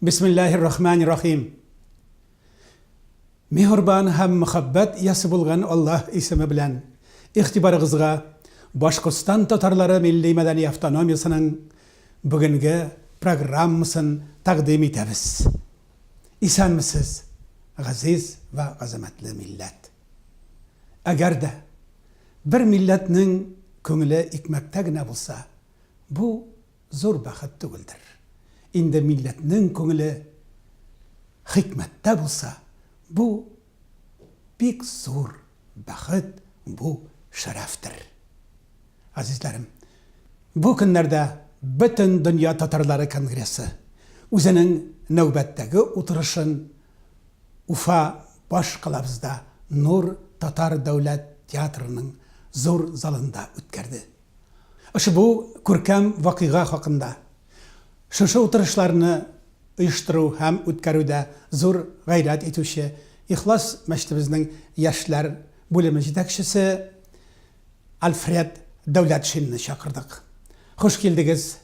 Бисмиллаһи рахмани рахим. Миһербан һәм мөхәббәт иясе булган Аллаһ исеме белән игътибарыгызга Башкортстан татарлары милли-мәдәни автономиясенең бүгенге программасын тәкъдим итәбез. Исәнмесез, газиз вә газамәтле милләт! Әгәр дә бер милләтнең күңеле икмәктә генә булса, бу зур бәхет түгелдер. Инде милләтнең күңеле хикмәттә булса, бу бик зур бәхет, бу шәрәфтер. Азизләрем, бу көннәрдә Бөтен дөнья татарлары конгрессы үзенең нәүбәттәге утырышын Уфа баш калабызда Нур татар дәүләт театрының зур залында үткәрде. Ошбу күркәм вакыйга хакында, шушы утырышларны оештыру һәм үткәрүдә зур гайрәт итүче Ихлас мәчетебезнең яшьләр бүлеме җитәкчесе Альфред Дәүләтшинны чакырдык. Хуш килдегез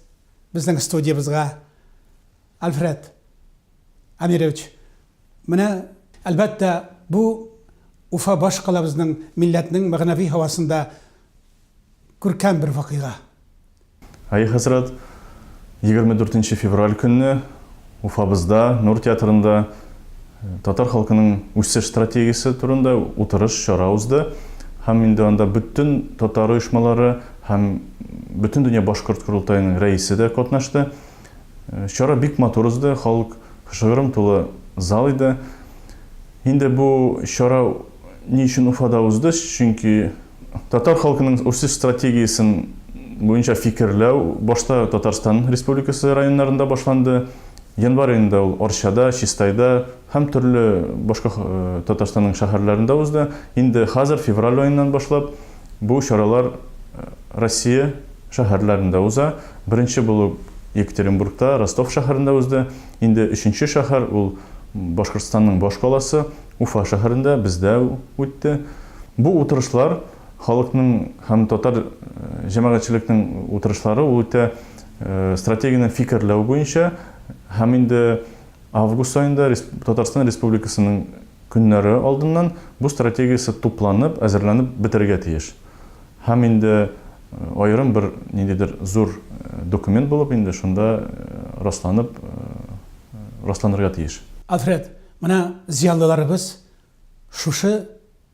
безнең студиябызга, Альфред Әмирович! Менә, әлбәттә, бу Уфа башкалабызның милләтнең мәгънәви һавасында күркәм бер вакыйга. Әйе, хәзрәт, егерме дүртенче февраль көнне Уфабызда, Нур театрында татар халкының үсеш стратегиясе турында утырыш, чара узды. Һәм инде анда бөтен татар оешмалары һәм Бөтендөнья башкорт корылтаеның рәисе дә катнашты. Чара бик матур узды, халык шыгрым тулы зал иде. Инде бу чара ни өчен Уфада узды? Чөнки татар халкының үсеш стратегиясен буенча фикерләү башта Татарстан Республикасы районнарында башланды. Январь аенда ул Арчада, Чистайда һәм төрле башка Татарстанның шәһәрләрендә узды. Инде хәзер февраль аеннан башлап Бу чаралар Россия шәһәрләрендә уза. Беренче булып Екатеринбургта, Ростов шәһәрендә узды. Инде өченче шәһәр, ул Башкортстанның башкаласы, Уфа шәһәрендә, бездә үтте. Бу утырышлар халыкның һәм татар җәмәгатьчелекнең утырышлары, ул үтә стратегияне фикерләү буенча һәм инде август аенда Татарстан Республикасының Көннәре алдыннан бу стратегиясе тупланып, әзерләнеп бетерергә тиеш. Һәм инде аерым бер ниндидер зур документ булып инде шунда расланып расланырга тиеш. Альфред, менә зыялыларыбыз шушы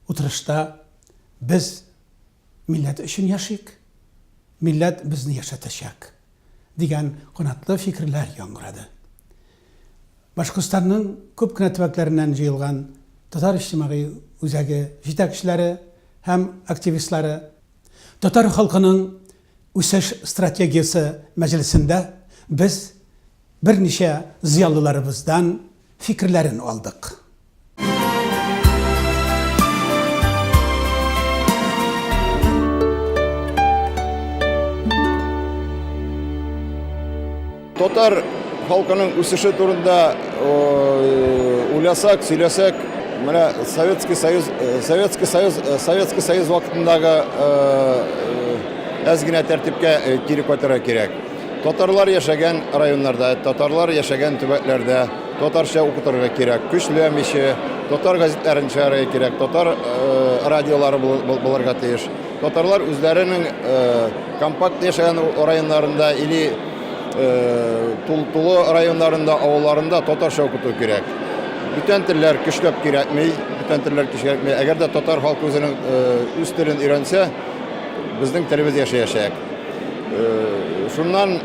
утырышта Без милләт өчен яшик, милләт безне яшәтәчәк! дигән канатлы фикерләр яңгырады. Башкортстанның күп кенә төбәкләреннән җыелган татар иҗтимагый үзәге җитәкчеләре һәм активистлары Татар халкының үсеш стратегиясе мәҗлесендә без берничә зыялыларыбыздан фикерләрен алдык. Татар халкының үсеше турында уйласак, сөйләсәк, менә Советский Союз, э, Советский Союз, э, Советский Союз вакытындагы әз э, генә тәртипкә кире кайтырга кирәк. Татарлар яшәгән районнарда, татарлар яшәгән төбәкләрдә Татарча укытырга кирәк, көчләмичә, татар газетләрен чыгарырга кирәк, татар радиолары булырга тиеш. Татарлар үзләренең компакт яшәгән районнарында или тулы районнарында, авылларында татарча укыту кирәк. Бүтән телләр көчләп кирәкми, бүтән телләр көчләп. Әгәр дә татар халкы үзенең үз телен өйрәнсә, безнең телебез яшәячәк. Шуннан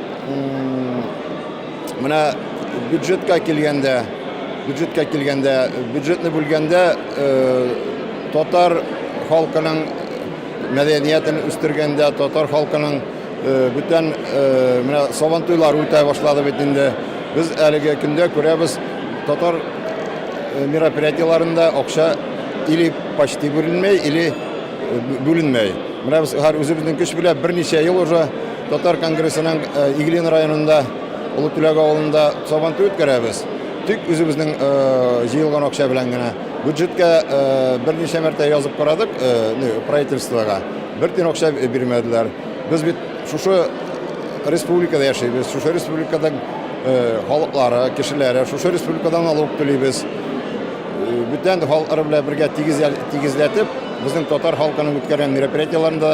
Менә бюджетка килгәндә, бюджетка килгәндә, бюджетны бүлгәндә татар халкының мәдәниятен үстергәндә, татар халкының бүтән менә сабантуйлар үтә башлады бит инде. Без әлеге көндә күрәбез, татар мероприятиеләрендә акча или почти бүленмәй, или бүленмәй. Менә без хәзер үзебезнең көч белән берничә ел уже Татар конгрессының Иглин районында Олы Түләк авылында сабантуй үткәрәбез. Тик үзебезнең җыелган акча белән генә. Бюджетка берничә мәртә язып карадык правительствога. Бер тин акча бирмәделәр. Без бит шушы республикада яшибез. Шушы республиканың халыклары, кешеләре, шушы республикадан налог түлибез. Бүтән халыклар белән бергә тигезләтеп, безнең татар халкының үткәргән мероприятиеләрендә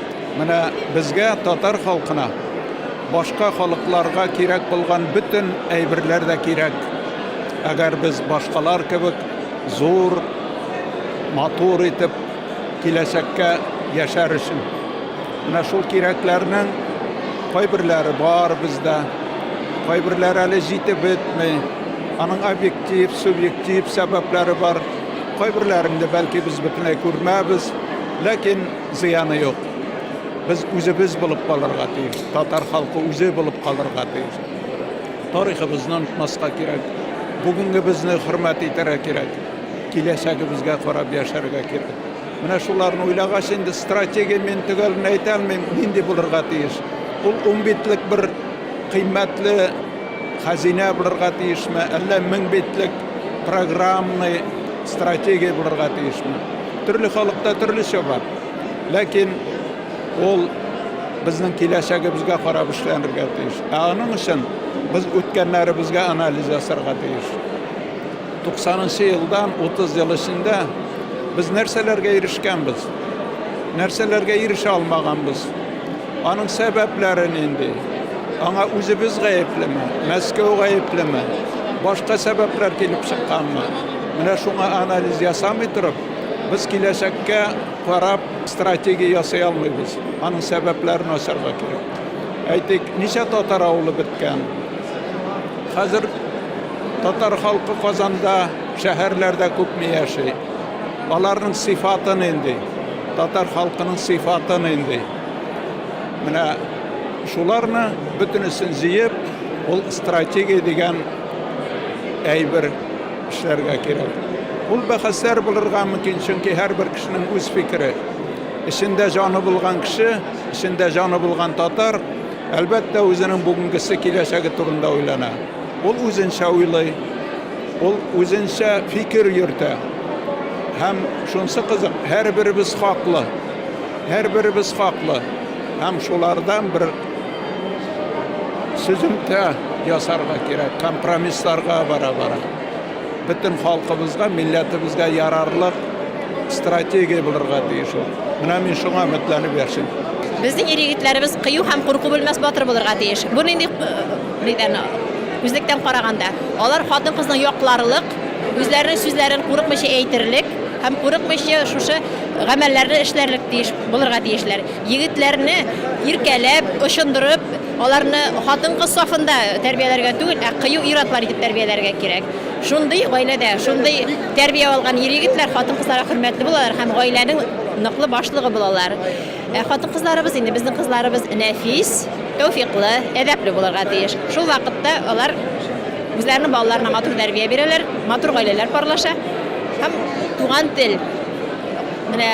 Менә безгә, татар халкына, башка халыкларга кирәк булган бөтен әйберләр дә кирәк. Әгәр без башкалар кебек зур, матур итеп киләчәккә яшәр өчен. Менә шул кирәкләрнең кайберләре бар бездә, кайберләре әле җитеп бетми. Аның объектив, субъектив сәбәпләре бар. Кайберләрен дә, бәлки, без бөтенләй күрмәбез. Ләкин Зыяны юк. Без үзебез булып калырга тиеш. Татар халкы үзе булып калырга тиеш. Тарихыбызны онытмаска кирәк. Бүгенгебезне хөрмәт итәргә кирәк. Киләчәгебезгә карап яшәргә кирәк. Менә шуларны уйлагач инде стратегия мин төгәлен әйтә алмыйм, нинди булырга тиеш. Ул унбитлек бер кыйммәтле Хәзинә булырга тиешме, әллә мең битлек программный стратегия булырга тиешме? Төрле халыкта төрлечә бар. Ләкин ул безнең киләчәгебезгә карап эшләнергә тиеш. Ә аның өчен без үткәннәребезгә анализ ясарга тиеш. 90 елдан 30 ел эчендә без нәрсәләргә ирешкәнбез? Нәрсәләргә ирешә алмаганбыз? Аның сәбәпләре нинди? Аңа үзебез гаеплеме? Мәскәү гаеплеме? Башка сәбәпләр килеп чыкканмы? Менә шуңа анализ ясамый торып, без киләчәккә карап стратегия ясый алмыйбыз. Аның сәбәпләрен ачарга кирәк. Әйтик, ничә татар авылы беткән? Хәзер татар халкы Казанда, шәһәрләрдә күпме яши? Аларның сыйфаты нинди? Татар халкының сыйфаты нинди? Менә шуларны бөтенесен җыеп, ул стратегия дигән әйбер эшләргә кирәк. Ул бәхәсләр булырга мөмкин, чөнки һәрбер кешенең үз фикере. Эчендә җаны булган кеше, эчендә җаны булган татар, әлбәттә, үзенең бүгенгесе, киләчәге турында уйлана. Ул үзенчә уйлый, ул үзенчә фикер йөртә. Һәм шунысы кызык, һәрберебез хаклы. Һәрберебез хаклы һәм шулардан бер сөземтә ясарга кирәк, компромиссларга бара-бара. Бөтен халкыбызга, милләтебезгә ярарлык стратегия булырга тиеш ул. Менә мин шуңа өметләнеп яшим. Безнең ир-егетләребез кыю һәм курку белмәс батыр булырга тиеш. Бу нинди, нидән, үзлектән караганда. Алар хатын-кызны якларлык, Үзләренең сүзләрен курыкмыйча әйтерлек һәм курыкмыйча шушы гамәлләрне эшләрлек тиеш булырга тиешләр. Егетләрне иркәләп, очындырып, аларны хатын-кыз сафында тәрбияләргә түгел, ә кыю ир-атлар итеп тәрбияләргә кирәк. Шундый гаиләдә, шундый тәрбия алган ир-егетләр хатын-кызларга хөрмәтле булалар һәм гаиләнең ныклы башлыгы булалар. Ә хатын-кызларыбыз инде безнең кызларыбыз нәфис, тәүфиклы, әдәпле булырга тиеш. Шул вакытта алар үзләренең балаларына матур тәрбия бирәләр, матур гаиләләр парлаша һәм туган тел менә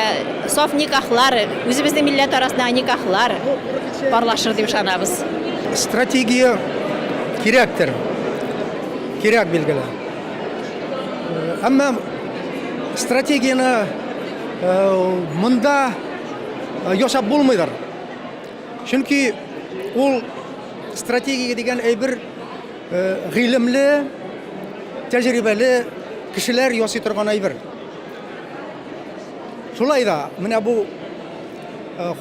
саф никахлар, үзебезнең милләт арасындагы никахлар парлашыр дип ышанабыз. Стратегия кирәктер. Кирәк билгеле. Әмма стратегияне монда ясап булмыйдыр. Чөнки ул стратегия дигән әйбер гыйлемле, тәҗрибәле кешеләр ясый торган әйбер. Шулай да менә бу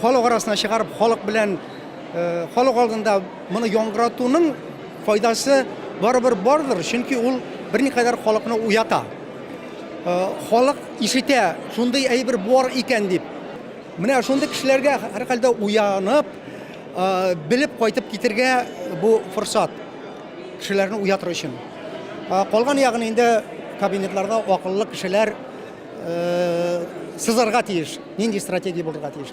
халык арасына чыгарып, халык белән халык алдында моны яңгыратуның файдасы барыбер бардыр, чөнки ул берникадәр халыкны уята. Халык ишетә, шундый әйбер бар икән дип. Менә шундый кешеләргә һәрхәлдә уянып, белеп кайтып китергә бу форсат. Кешеләрне уятыр өчен. Калган ягын инде кабинетларда акыллы кешеләр сызарга тиеш, нинди стратегия булырга тиеш.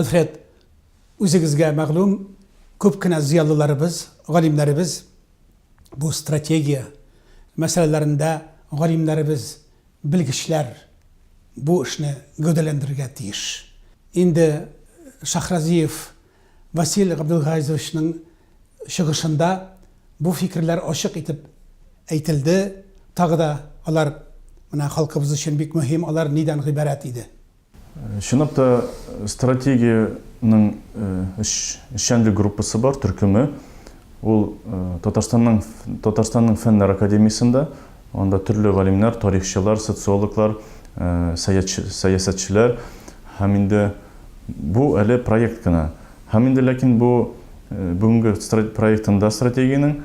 Альфред, үзегезгә мәгълүм, күп кенә зыялыларыбыз, галимнәребез бу стратегия мәсьәләләрендә галимнәребез, белгечләр бу эшне гәүдәләндерергә тиеш. Инде Шахразиев Васил Габделгазовичның чыгышында бу фикерләр ачык итеп әйтелде, тагы да алар менә халкыбыз өчен бик мөһим, алар нидән гыйбарәт иде? Чынлап та, стратегиянең эшчәнлек группасы бар, төркеме. Ул Татарстанның Татарстанның Фәннәр академиясендә, анда төрле галимнәр, тарихчылар, социологлар, сәясәтчеләр һәм инде Бу әле проект кына. Һәм инде ләкин бу бүгенге проектында стратегиянең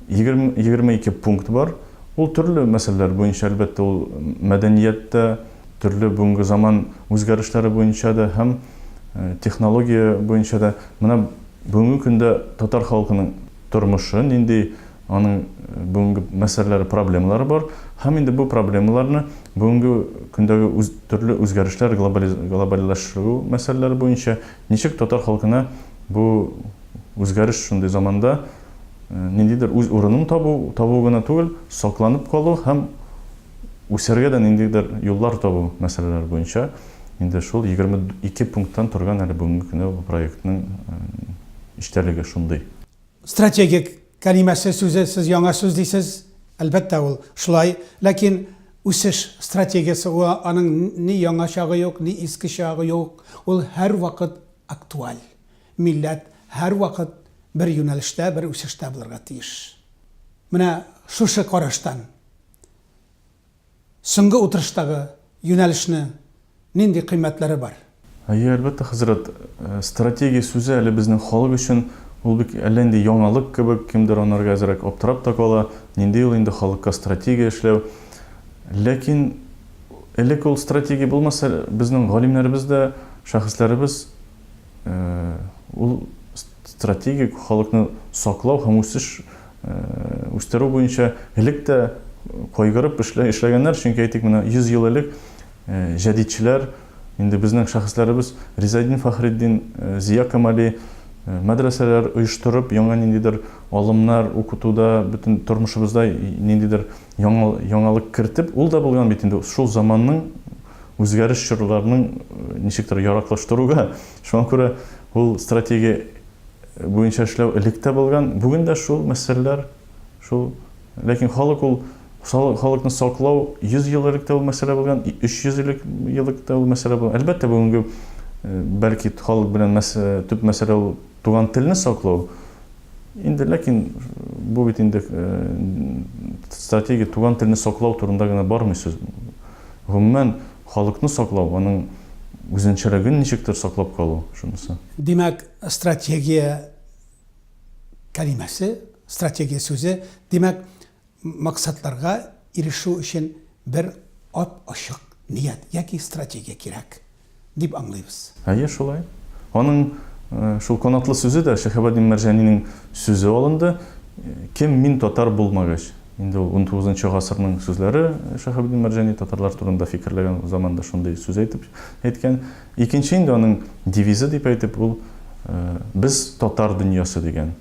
егерме ике пункт бар. Ул төрле мәсьәләләр буенча, әлбәттә, ул мәдәният тә, төрле бүгенге заман үзгәрешләре буенча да һәм технология буенча да. Менә бүгенге көндә татар халкының тормышы нинди? Аның бүгенге мәсьәләләре, проблемалары бар. Һәм инде бу проблемаларны бүгенге көндәге үз, төрле үзгәрешләр, глобализ, глобальләштерү мәсьәләләре буенча ничек татар халкына бу үзгәреш шундый заманда э, ниндидер үз урынын табу, табу гына түгел, сакланып калу һәм үсәргә дә ниндидер юллар табу мәсьәләләре буенча инде шул 22 пункттан торган әле бүгенге көндә бу проектның э, эчтәлеге шундый. Стратегик кәлимәсе, сүзе, сез яңа сүз дисез, әлбәттә, ул шулай, ләкин үсеш стратегиясе, ул аның ни яңа чагы юк, ни иске чагы юк, ул һәрвакыт актуаль. Милләт һәрвакыт бер юнәлештә, бер үсештә булырга тиеш. Менә шушы караштан, Соңгы утырыштагы юнәлешне нинди кыйммәтләре бар? Әйе, әлбәттә, хәзрәт. Стратегия сүзе әле безнең халык өчен, ул бик әллә нинди яңалык кебек, кемдер анарга әзрәк аптырап та кала, нинди ул инде халыкка стратегия эшләү. Ләкин элек ул стратегия булмаса, безнең галимнәребез дә, шәхесләребез, Ул стратегик халыкны саклау һәм үсеш үстерү буенча элек тә кайгырып эшләгәннәр, чөнки әйтик менә 100 ел элек җәдидчеләр инде безнең шәхесләребез Ризаэддин Фәхреддин, Зия Камали мәдрәсәләр оештырып, яңа ниндидер алымнар укытуда, бөтен тормышыбызда ниндидер яңалык кертеп, ул да булган бит инде шул заманның үзгәреш чорларының ничектер яраклаштыруга. Шуңа күрә ул стратегия буенча эшләү элек тә булган. Бүген дә шул мәсьәләләр шул. Ләкин халык ул халыкны саклау 100 ел элек тә ул мәсьәлә булган, 300 элек елык та ул мәсьәлә булган. Әлбәттә, бүгенге бәлки халык белән төп мәсьәлә ул туган телне саклау. Инде, ләкин бу бит инде стратегия туган телне саклау турында гына бармый сүз. Гомумән, халыкны саклау, аның үзенчәлеген ничектер саклап калу, шунысы. Димәк, стратегия кәлимәсе, стратегия сүзе, димәк, максатларга ирешү өчен бер ап-ачык ният яки стратегия кирәк. дип аңлыйбыз. Әйе, шулай. Аның шул канатлы сүзе дә Шәһабәддин Мәрҗанинең сүзе алынды, Кем мин татар булмагач? Инде ул унтугызынчы гасырның сүзләре, Шәһабәддин Мәрҗани татарлар турында фикерләгән заманда шундый сүз әйтеп әйткән. Икенче инде аның девизы дип әйтеп, ул Без татар дөньясы дигән.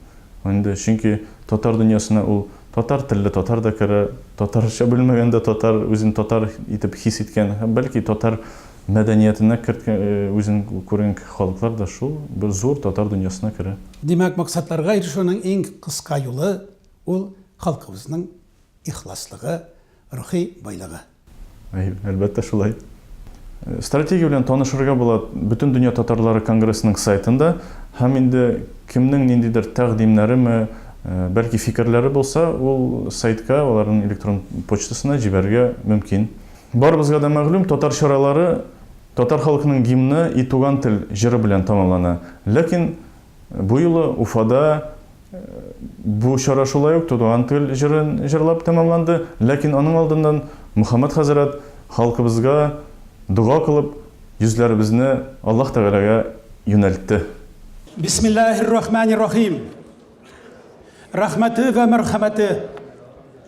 Инде чөнки татар дөньясына ул татар телле татар да керә, татарча белмәгән дә татар, үзен татар итеп хис иткән һәм бәлки татар Мәдәниятенә керткән, үзен күргән халыклар да шул бер зур татар дөньясына керә. Димәк, максатларга ирешүнең иң кыска юлы, ул, халкыбызның ихласлыгы, рухи байлыгы. Әй, әлбәттә шулай. Стратегия белән танышырга була Бөтендөнья татарлары конгрессының сайтында һәм инде кемнең ниндидер тәкъдимнәреме, бәлки фикерләре булса, ул сайтка, аларның электрон почтасына җибәрергә мөмкин. Барыбызга да мәгълүм, татар чаралары татар халкының гимны И туган тел җыры белән тәмамлана. Ләкин бу юлы Уфада бу чара шулай ук Туган тел җырын җырлап тәмамланды, ләкин аның алдыннан Мөхәммәт хәзрәт халкыбызга дога кылып, йөзләребезне Аллаһ Тәгаләгә юнәлтте. Бисмиллаһир рахманир рахим. Рәхмәте вә мәрхәмәте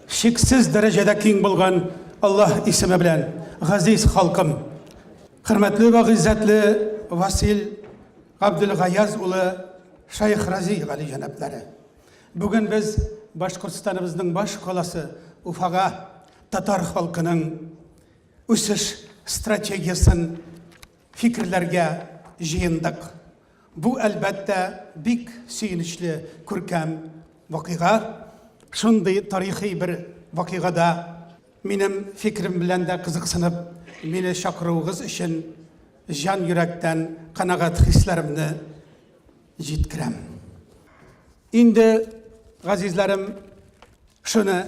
чиксез дәрәҗәдә киң булган Аллаһ исеме белән, газиз халкым. Хөрмәтле вә гыйззәтле Васил Габделгаяз улы Шайх Рази гали җәнаплары. Бүген без Башкортстаныбызның баш каласы Уфага татар халкының үсеш стратегиясен Фикерләргә җыендык. Бу, әлбәттә, бик сөенечле күркәм вакыйга. Шундый тарихи бер вакыйгада минем фикерем белән дә кызыксынып, мине чакыруыгыз өчен җан йөрәктән канәгать хисләремне җиткерәм. Инде, газизләрем, шуны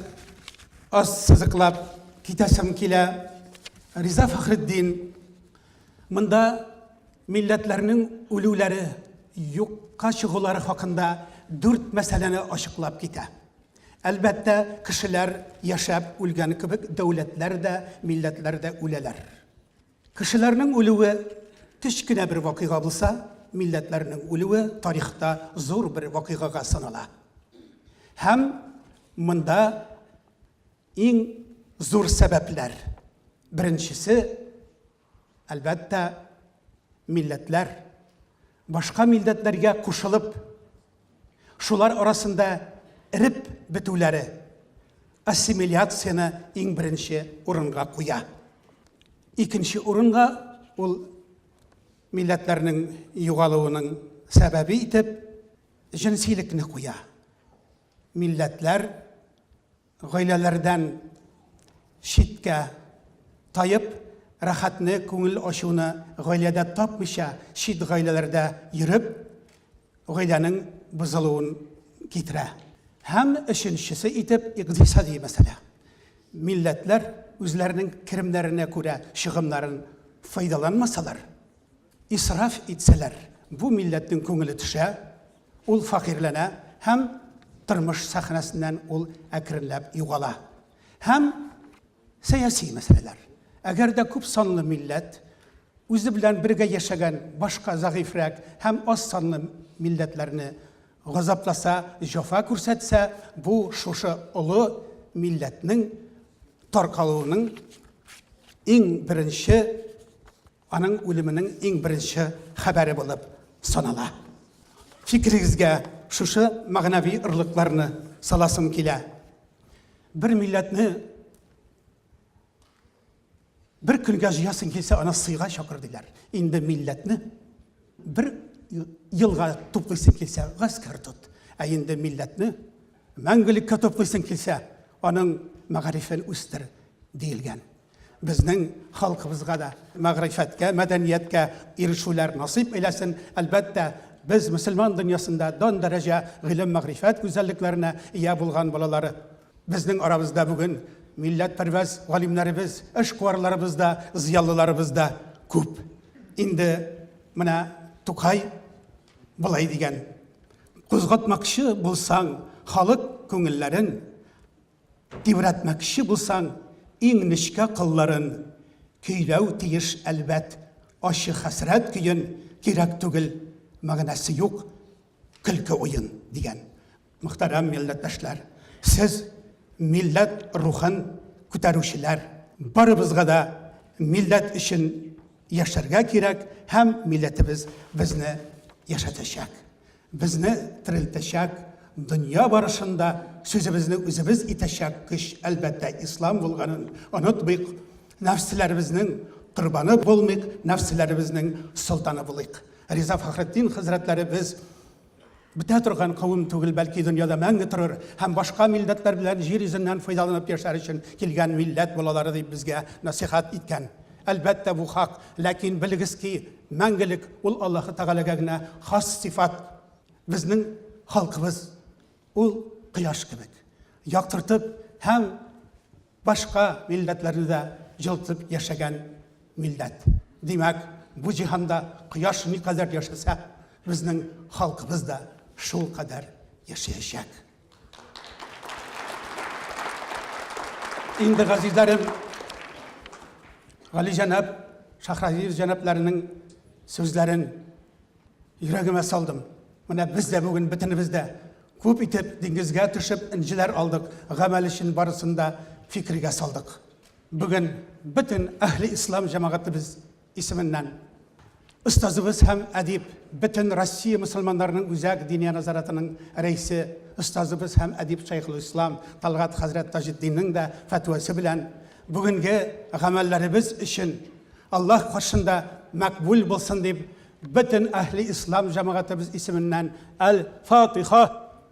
аз сызыклап китәсем килә. Риза Фәхретдин, монда милләтләрнең үлүләре, юкка чыгулары хакында дүрт мәсьәләне ачыклап китә. Әлбәттә, кешеләр яшәп үлгән кебек, дәүләтләр дә, милләтләр дә үләләр. Кешеләрнең үлүе кечкенә бер вакыйга булса, милләтләрнең үлүе тарихта зур бер вакыйгага санала. Һәм монда иң зур сәбәпләр. Беренчесе, әлбәттә, милләтләр. Башка милләтләргә кушылып, шулар арасында эреп бетүләре ассимиляцияне иң беренче урынга куя. Икенче урынга ул милләтләрнең югалуының сәбәбе итеп җенсилекне куя. Милләтләр Гаиләләрдән читкә таеп, рәхәтне, күңел ачуны гаиләдә тапмыйча, чит гаиләләрдә йөреп, гаиләнең бозылуын китерә. Һәм өченчесе итеп, икътисади мәсьәлә. Милләтләр үзләренең керемнәренә күрә чыгымнарын файдаланмасалар, Исраф итсәләр, бу милләтнең күңеле төшә, ул фәкыйрьләнә һәм тормыш сәхнәсеннән ул әкренләп югала. Һәм сәяси мәсьәләләр. Әгәр дә күп санлы милләт үзе белән бергә яшәгән башка зәгыйфьрәк һәм аз санлы милләтләрне газапласа, җәфа күрсәтсә, бу шушы олы милләтнең таркалуының иң беренче Аның үлеменең иң беренче хәбәре булып санала. Фикерегезгә шушы мәгънәви ырлыкларны саласым килә. Бер милләтне бер көнгә җыясың килсә, аны сыйга чакыр диләр. Инде милләтне бер елга туплыйсың килсә, гаскәр тот. Ә инде милләтне мәңгелеккә туплыйсың килсә, аның мәгарифен үстер диелгән. Безнең халкыбызга да мәгърифәткә, мәдәнияткә ирешүләр насыйп әйләсен. Әлбәттә, без мөселман дөньясында дан дәрәҗә гыйлем-мәгърифәт гүзәллекләренә ия булган балалары. Безнең арабызда бүген милләтпәрвәз галимнәребез, эшкуарларыбыз да, зыялыларыбыз да күп. Инде менә Тукай болай дигән, Кузгатмакчы булсаң халык күңелләрен, Тибрәтмәкче булсаң, иң нечкә кылларын, Көйләү тиеш, әлбәт, ачы хәсрәт көен, Кирәк түгел, мәгънәсе юк, көлке уен, дигән. Мөхтәрәм милләттәшләр! Сез, милләт рухын күтәрүчеләр! Барыбызга да милләт өчен яшәргә кирәк һәм милләтебез безне яшәтәчәк. Безне терелтәчәк, дөнья барышын да сүзебезне үзебез итәчәк көч, әлбәттә, ислам булганын онытмыйк. Нәфселәребезнең корбаны булмыйк, нәфселәребезнең солтаны булыйк. Риза Фәхретдин хәзрәтләребез бетә торган кавым түгел, бәлки дөньяда мәңге торыр һәм башка милләтләр белән җир йөзеннән файдаланып яшәр өчен килгән милләт балалары дип безгә насихат иткән. Әлбәттә, бу хак, ләкин белегез ки, Мәңгелек ул Аллаһы Тәгаләгә генә хас сыйфат. Безнең халкыбыз ул кояш кебек, яктыртып һәм башка милләтләрне дә җылытып яшәгән милләт. Димәк, бу җиһанда кояш никадәр яшәсә, безнең халкыбыз да шулкадәр яшәячәк. Инде газизләрем, Гали җәнәп, Шахразиев җәнәпләренең сүзләрен йөрәгемә салдым. Менә без дә бүген бөтенебез дә күп итеп диңгезгә төшеп инҗеләр алдык, гамәл өчен барысын да фикергә салдык. Бүген бөтен әһли ислам җәмәгатебез исеменнән, остазыбыз һәм әдип, бөтен Россия мөселманнарының үзәк Диния назаратының рәисе, остазыбыз һәм әдип Шәехелислам Талгат хәзрәт Таҗетдиннең дә фәтвәсе белән бүгенге гамәлләребез өчен Аллаһ каршында мәкбүл булсын дип, бөтен әһле ислам җәмәгатебез исеменнән Әл-Фатиха!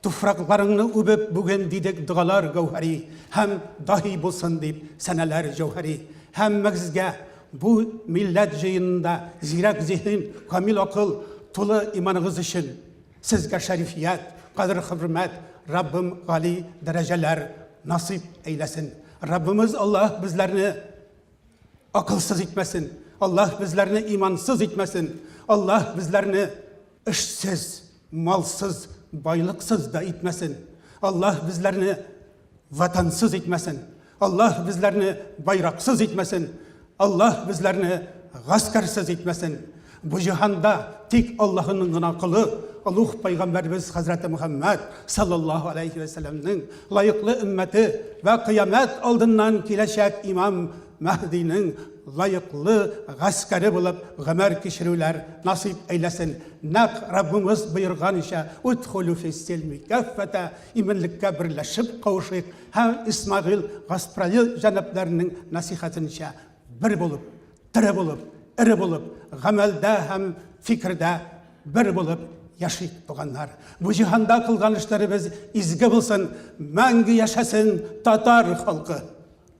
Туфракларыңны үбеп бүген дидек догалар гәүһәри һәм даһи булсын дип сәнәләр җәүһәри. Һәммәгезгә бу милләт җыенында зирәк зиһен, камил акыл, тулы иманыгыз өчен, сезгә шәрифият, кадер-хөрмәт, Раббым гали дәрәҗәләр насыйп әйләсен. Раббымыз Аллаһ безләрне акылсыз итмәсен, Аллаһ безләрне имансыз итмәсен, Аллаһ безләрне Эшсез, малсыз, байлыксыз да итмәсен. Аллаһ безләрне ватансыз итмәсен. Аллаһ безләрне байраксыз итмәсен. Аллаһ безләрне гаскәрсез итмәсен. Бу җиһанда тик Аллаһының гына кылы, Аллаһ пайгамбарыбыз хәзрәте Мөхәммәд саллаллаһу алейхи ва сәлләмнең лаеклы өммәте ва кыямәт алдыннан киләчәк имам Мәһдинең лаеклы гаскәре булып гомер кичерүләр насыйп әйләсен, нәкъ Раббымыз боерганыча, Удхулү фис-силми каффәтә, иминлеккә берләшеп кавышыйк, һәм Исмәгыйль Гасправил җәнапларының насыйхәтенчә, бер булып, тере булып, эре булып, гамәлдә һәм фикердә бер булып яшик, туганнар! Бу җиһанда кылган эшләребез изге булсын! Мәңге яшәсен татар халкы!